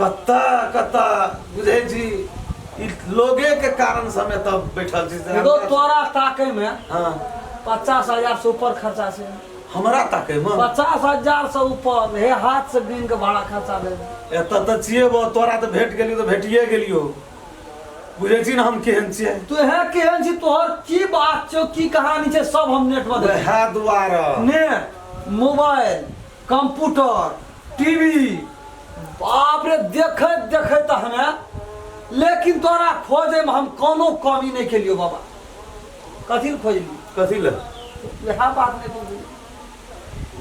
कतऽ कतऽ बुझै छी ई लोगे के कारण से हम एतऽ बैठल छी से एगो हमरा- तोरा ताके में हाँ पचास हजार से ऊपर खर्चा छै हमरा ताके मे पचास हजार से ऊपर हे हाथ से गिन के भाड़ा खर्चा दे एतऽ तऽ छियै बो तोरा तऽ भेट गेलियो तऽ भेटिए गेलियो बुझै छी ने हम केहन छियै तू हे केहन छी तोहर की बात छौ की कहानी छै सब हम नेट पर देखै वएह दुआरे नेट मोबाइल कंप्यूटर टीवी बाप रे देखैत देखैत हमे लेकिन तोरा खोजैमे हम कोनो कमी नहि केलियौ बाबा कथी लए खोजली कथी लए इएह बात नहि बुझली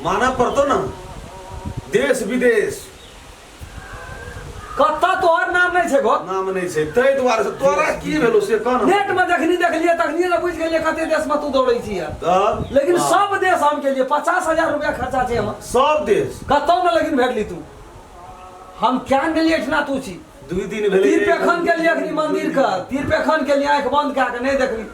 मानऽ पड़तौ ने देश विदेश कत्ता तोहर नाम नहीं छे गो नाम नहीं छे तै द्वारे से तोरा की भेलो से कह ना नेट में जखनी देखलिए तखनी ने बुझ गेलिए कते देश में तू दौड़ै छी तब लेकिन हाँ। सब देश हम के लिए 50000 रुपया खर्चा छे हम सब देश कत्ता में लेकिन भेटली तू हम क्या के लिए इतना तू छी दुई दिन भेले तीर पेखन के लिए अखनी मंदिर का तीर पेखन के लिए आंख बंद का के नहीं देखली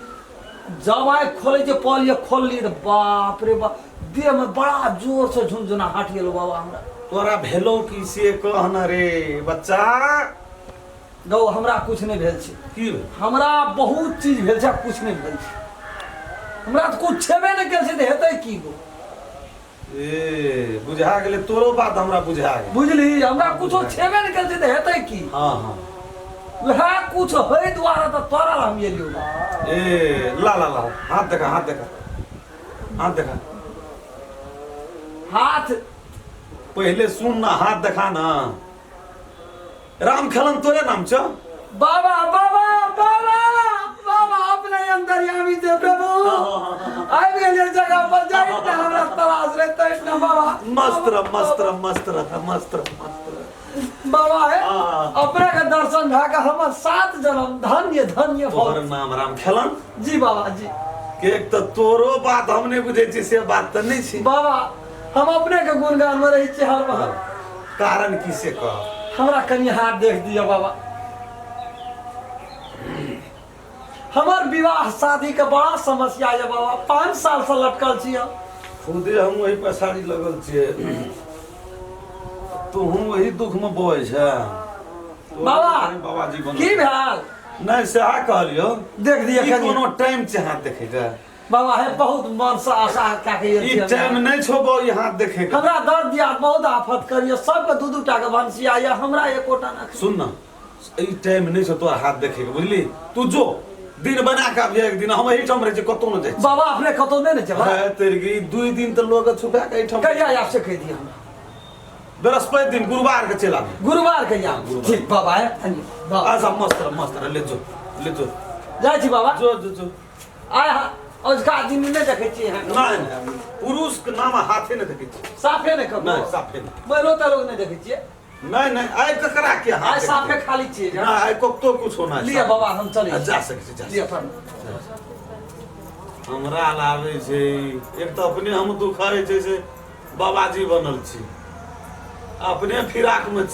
जब आय खोले जे पॉल ये खोल ली तो बाप रे बाप देह में बड़ा जोर से झुनझुना हट गेलो बाबा हमरा तोरा भेलो की से कह न रे बच्चा गौ हमरा कुछ नहीं भेल छै की भेल? हमरा बहुत चीज भेल छै कुछ नहीं भेल छै हमरा तो कुछ छेबे नहीं कल छै तो हेतै की गो ए बुझा गेले तोरो बात हमरा बुझा गेल बुझली हमरा कुछो छेबे नहि करै छै तऽ हेतै की हाँ हाँ वएह कुछ होइ दुआरे तऽ तोरा लग हम एलियौ ए ला ला ला हाथ देखा हाथ देखा हाथ देखा हाथ पहले सुन ना हाथ देखा ना राम खलन तोरे नाम छ बाबा बाबा बाबा बाबा अपने अंतर्यामी थे प्रभु आई भी ये जगह पर जाई त हमरा तलाश रे त इतना बाबा मस्त्र मस्त्र मस्त्र मस्त्र मस्त्र बाबा है हाँ। अपने के दर्शन भा के हमर सात जन्म धन्य धन्य हो तोहर नाम राम खलन जी बाबा जी के एक त तोरो बात हम नहि बुझै छी से बात त नहि छी बाबा हम अपने के गुणगान में रही छी हर बहर कारण की से कह हमरा कनी हाथ देख दिया बाबा हमार विवाह शादी के बड़ा समस्या है बाबा पाँच साल से लटकल छी हम खुदे हम वही पछाड़ी लगल छिए तो हम वही दुख में बोए छे बाबा बाबा जी की भेल नहीं से आ कहलियो देख दिया कोनो टाइम चाहत देखे बाबा हे बहुत मन से आशा कए के ई एलियै टाइम नहि छौ बौ ई हाथ देखे के हमरा दर्द दिया बहुत आफत करियो सबके दू दू टा के भनसिया या हमरा एकोटा ना सुन न ई टाइम नहि छौ तोरा हाथ देखे के बुझली तू जो दिन बना के आबिया एक दिन हम एही ठाम रहै छी कतौ नहि जाइ बाबा अपने कतौ नहि ने छी। जेबै है तेरी की, दुई दिन त लोग छुपा के एही ठाम कहिया आब से कहि दिया हमरा बृहस्पति दिन गुरुवार के चला गुरुवार कहिया आब? गुरुवार। ठीक बाबा हे धन्यवाद बाबा आजा मस्त रह मस्त रह ले जो ले जो जाइ छी बाबा जो जो जो आय हा अजुका दिन नहि देखै छियै अहाँ नहि नहि, पुरुषके नाम हाथे नहि देखै छी साफे नहि करू नहि साफे नहि बैरो तैरो नहि देखै छियै नहि नहि आइ ककरा के हाथ आय देखतै? साफे खाली छियै जे नहि आइ कतो कुछ होना है, लिअ साफ। बाबा हम चलै आ, छी जा सकै छी जा लिअ सकै फर्म छी। हमरा लागे छै एक तऽ अपने हम दुखाबै छै से बाबाजी बनल छी अपने फिराकमे छी